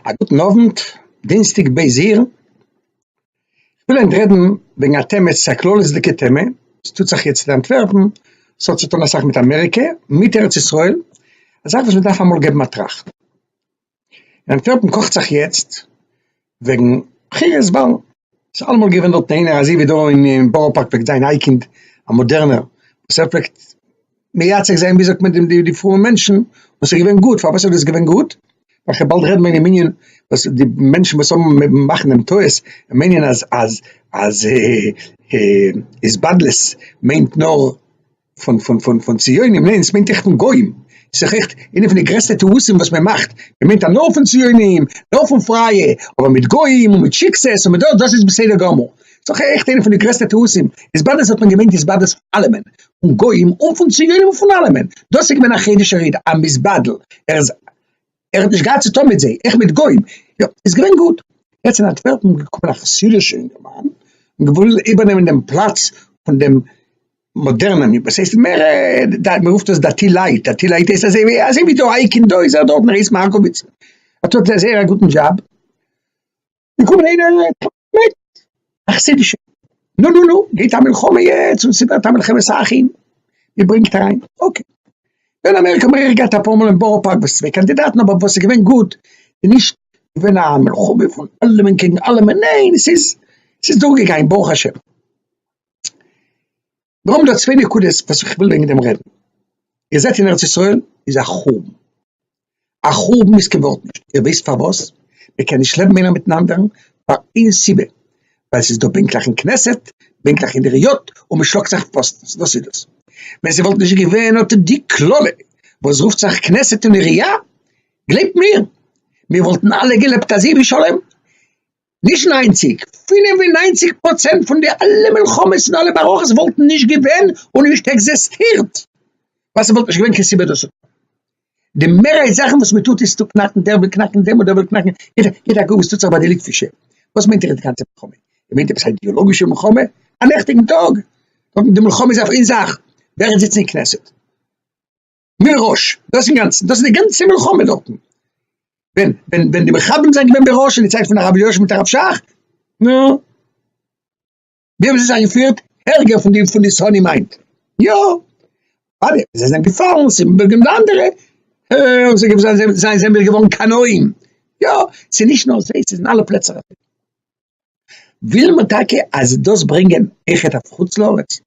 א גוטן אוונט, דינסטאג ב' אייר, כ'וויל היינט רעדן וועגן א טעמע, עס איז א כללית'דיגע טעמע, עס טוט זיך יעצט אין אנטווערפן, עס האט צוטון אסאך מיט אמעריקע, מיט ארץ ישראל, א זאך וואס מען דארף אמאל געבן א טראכט. אין אנטווערפן קאכט זיך יעצט וועגן בחירות וואלן, ס'איז אלעמאל געווען דארט איינער אזוי ווי דא אין בארא פארק פלעגט זיין אייקינד א מאדערנער וואס ער פלעגט מייצג זיין ווי זאגט מען די פרומע מענטשן און ס'איז געווען גוט, פארוואס איז דאס געווען גוט? ווייל כ'באלד רעד מען אין מנין וואס די מענטשן וואס האבן מאכן דעם טעות און מיינען אז אז אז התבדלות מיינט נאר פון פון פון פון ציונים, ניין עס מיינט עכט פון גוים, עס איז דאך עכט איינע פון די גרעסטע טעותים וואס מען מאכט, מען מיינט אז נאר פון ציונים, נאר פון פרייע, אבער מיט גוים און מיט שיקסעס און מיט דאס, דאס איז בסדר גמור, עס איז דאך עכט איינע פון די גרעסטע טעותים, התבדות האט מען געמיינט התבדות פון אלעמען, פון גוים און פון ציונים און פון אלעמען, דאס איז געווען א חידוש הרי ד, א מתבדל, ער איז. ער האט נישט געהאט צו טון מיט זיי, עכ פ מיט גוים, יא, איז געווען גוט. יעצט אין אנטווערפן געקומען א חסידישע אינגערמאן און געוואלט איבערנעמען דעם פלאץ פון דעם מאדערנעם, וואס הייסט מער, מען רופט עס דתי לייט, דתי לייט הייסט אזוי ווי, אזוי ווי דא אייקינד דא איז ער דארט און ער הייסט מארקאוויץ, ער טוט זיי זייער א גוטן דזשאב. געקומען איינער מיט א חסידישע נו נו נו גייט א מלחמה יעצט און ס'ווערט א מלחמת אחים איר ברענגט אריין אקעי אין אמעריקע האבן מיר אויך געהאט אפאר מאל אין בארא פארק וואס צוויי קאנדידאטן אבער וואס איז געווען גוט איז נישט געווען א מלחמה פון אלעמען קעגן אלעמען ניין עס איז עס איז דורכגעגאנגען ברוך השם. נאר מיט די צוויי נקודות וואס איך וויל וועגן דעם רעדן, איר זעט אין ארץ ישראל איז א חורבן, א חורבן וואס כ'ווארט נישט, איר וויסט פארוואס? מען קען נישט לעבן איינער מיטן אנדערן פאר איין סיבה, ווייל ס'איז דא בענקלעך אין כנסת, בענקלעך אין די ראיאט, און מען שלאגט זיך פאסטנס, דאס איז דאס. ווען ס'וואלט נישט געווען אט די קללה וואס רופט זיך כנסת און עירייה, גלייבט מיר, מיר וואלטן אלע געלעבט אזוי בשלום, נישט ניינציג, פֿינף און נײַנציק פראצענט פון די אלע מלחמות און אלע מערכות וואלטן נישט געווען און נישט עקזעסטירט ווייל ס'וואלט נישט געווען קיין סיבה דאס צו טון. די מערהייט זאכן וואס מען טוט איז צו קנאקן, דער וויל קנאקן דעם און דער וויל קנאקן יענעם, קוק אגב וואס טוט זיך ביי די ליטווישע, וואס מיינט איר די גאנצע מלחמה? איר מיינט עפעס א אידעאלאגישע מלחמה? א נעכטיגן טאג? די מלחמה איז אויף איין זאך, ווער עס זיצט אין כנסת. מראש, דאס אינגאנצן, דאס איז די גאנצע מלחמה דארטן, ווען, ווען, ווען די מחבלים זענען געווען בראש אין די צייט פון הרב יושע מיט הרב שך, נו, ווי האבן זיי זיך געפירט? ערגער פון די, פון די סאני מיינד, יא, אדער זיי זענען געפאלן, ס'איז געווען די אנדערע, אה, זיי זענען, זיי זענען געווארן קנאים, יא, ס'איז נישט נאר זיי, ס'איז אין אלע פלעצער אזוי. וויל מען טאקע אז דאס ברענגען איכער אויף חוץ לארץ?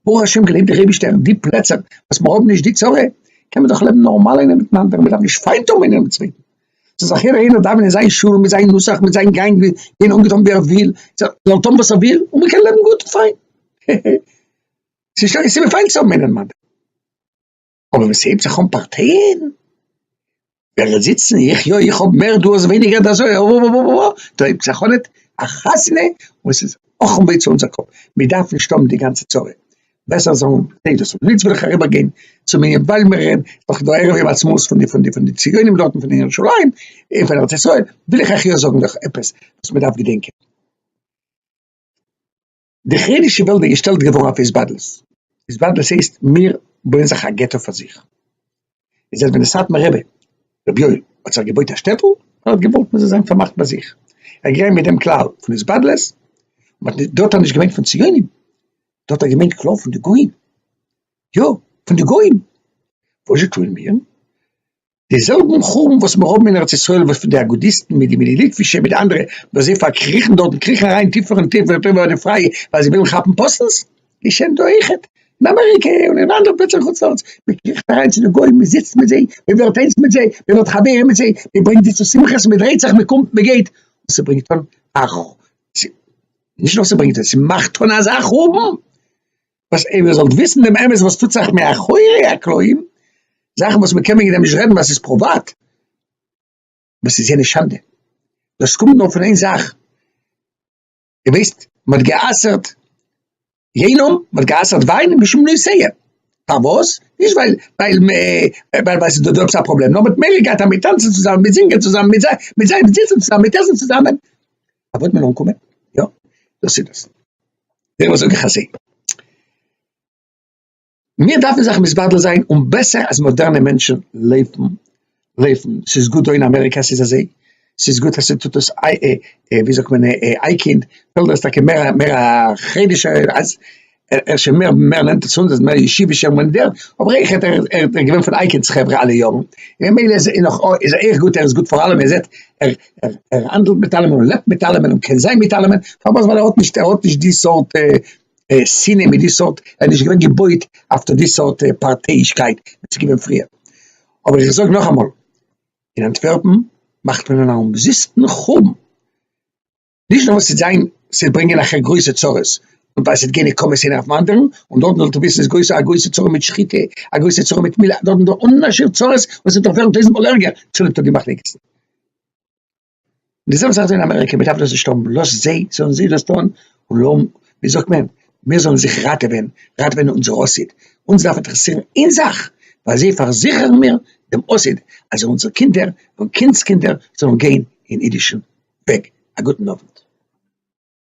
ברוך השם געלעבט די רעבישטער אין די פלעצער וואס מען האב נישט די צרה קען מען דאך לעבן נארמאל איינער מיטן אנדערן מען דארף נישט פיינט האבן איינער דעם צווייטן ס'איז זיך יעדער איינער דאווענען זיין שול מיט זיין נוסח מיט זיין גאנג ווי געווען אנגעטון ווי ער וויל זאל טון וואס ער וויל און מען קען לעבן גוט און פיין ס'איז נישט קיין סיבה פיינט צו האבן איינער דעם אנדערן. אבער ווען ס'הייבט זיך אן פארטיען, ווער וועט זיצן, איך יא, איך האב מער, דו האסט ווייניגער, דאס אזוי, אאאאאאאא, דא הייבט זיך אן א חתונה און ס'איז אכן וויי צו אונזער קאפ, מיר דארפן נישט האבן די גאנצע צרה, בעסער זאלן זיי דאס האבן, און יעצט וויל איך אריבערגיין צום ענין ווייל מיר רעדן דאך דא ערב יום העצמאות פון די פון די פון די ציונים דארטן פון ירושלים און פון ארץ ישראל, וויל איך אייך יא זאגן דאך עפעס וואס מ'דארף געדענקען. די חרדישע וועלט איז געשטעלט געווארן אויף התבדלות, התבדלות הייסט מיר בויען זיך א געטא פאר זיך, און זייט ווען די סאטמאר רבי רבי יואל האט זיך געבויט א שטעטל, ער האט געוואלט מען זאל זיין פארמאכט ביי זיך, ער איז געגאנגען מיט דעם כלל פון התבדלות, מען האט, דארט האט מען נישט געמיינט פון ציונים, דארט האט געמיינט כלל פון די גוים, יא פון די גוים, וואזשע טוען מיר? די זעלבן חורבן וואס מיר האבן אין ארץ ישראל וואס פון די אגודיסטן מיט די מיט די ליטווישע מיט די אנדערע וואס זיי פארקריכן דארט און קריכן אריין טיפער און טיפער און טויבער אדער פרייע ווייל זיי ווילן כאפן פאסנס געשענט דא אויכעט אין אמעריקע און אין אנדערע פלעצער חוץ לארץ מען קריכט אריין צו די גוים מען זיצט מיט זיי מען ווערט איינס מיט זיי מען ווערט חברים מיט זיי מען ברענגט זיי צו שמחות מען דרייט זיך מען קומט מען גייט און ס'ברענגט אן א נישט נאר ס'ברענגט אן ס'מאכט אן אזא חורבן וואס איר זאלט וויסן דעם אמת וואס טוט זיך מאחורי הקלעים, זאכן וואס מען קען וועגן דעם נישט רעדן ווייל ס'איז פריוואט, וואס איז יענע שאנדע? דאס קומט נאר פון איין זאך, איר ווייסט מען האט גע'אסר'ט יינום, מען האט גע'אסר'ט וויין משום נושא, פארוואס? נישט ווייל ווייל מען ווייל ס'איז דא עפעס א פראבלעם, נאר מען האט מעגליך געהאט אז מען טאנצן צוזאמען, מען זינגען צוזאמען, מען זיצן צוזאמען, מען עסן צוזאמען. אוואט מען אנקומען יא דאס איז דאס דעריבער זאג איך אזוי מיר דארפן זיך מסבדל זיין און בעסער אז מאדערנע מענטשן לעבן לעבן ס'איז גוט דא אין אמעריקע ס'איז אזוי ס'איז גוט אז ס'טוט דאס איי ווי זאגט מען איי קינד וויל דאס טאקע מער מער א חרדישע אז ער איז שוין מער מער נענטער צו אונז, ער איז מער ישיבישער מנדער, אבער איך רעד ער איז געווען פון אייקינד'ס חברה אלע יארן, און ממילא איז ער נאך איז ער אויך גוט, ער איז גוט פאר אלעמען, ער זעט ער ער ער האנדלט מיט אלעמען און לעבט מיט אלעמען און קען זיין מיט אלעמען, פארוואס ווייל ער האט נישט ער האט נישט די סארט שנאה מיט די סארט, ער איז נישט געווען געבויט אויף די סארט פארטייאישקייט וואס איז געווען פריער, אבער איך זאג נאכאמאל, אין אנטווערפן מאכט מען אן אומזיסטן חורבן. נישט נאר וואס ס'וועט זיין, ס'וועט ברענגען אחר גרויסע צרות, און ווייל ס'וועט גיין נקמות איינער אויפן אנדערן, און דארטן זאלט איר וויסן איז גרויסע א גרויסע צרה מיט שחיטה, א גרויסע צרה מיט מילה, דארטן איז דא אן אנשיר צרות וואס וועט נאך ווערן טויזנט מאל ערגער צוליב טויט די מחלוקת'ן. די זעלבע זאך איז דא אין אמעריקע, מען דארף דאס נישט האבן, לאז זיי, זאלן זיי דאס טון, און לא, ווי זאגט מען, מיר זאלן זיך ראטעווען, ראטעווען אונזער עתיד, אונז דארף אינטערעסירן איין זאך, ביי זיי פארזיכערן מיר דעם עתיד, אז אונזערע קינדער און קינדס קינדער זאלן גיין אין אידישן וועג. א גוטן אוונט.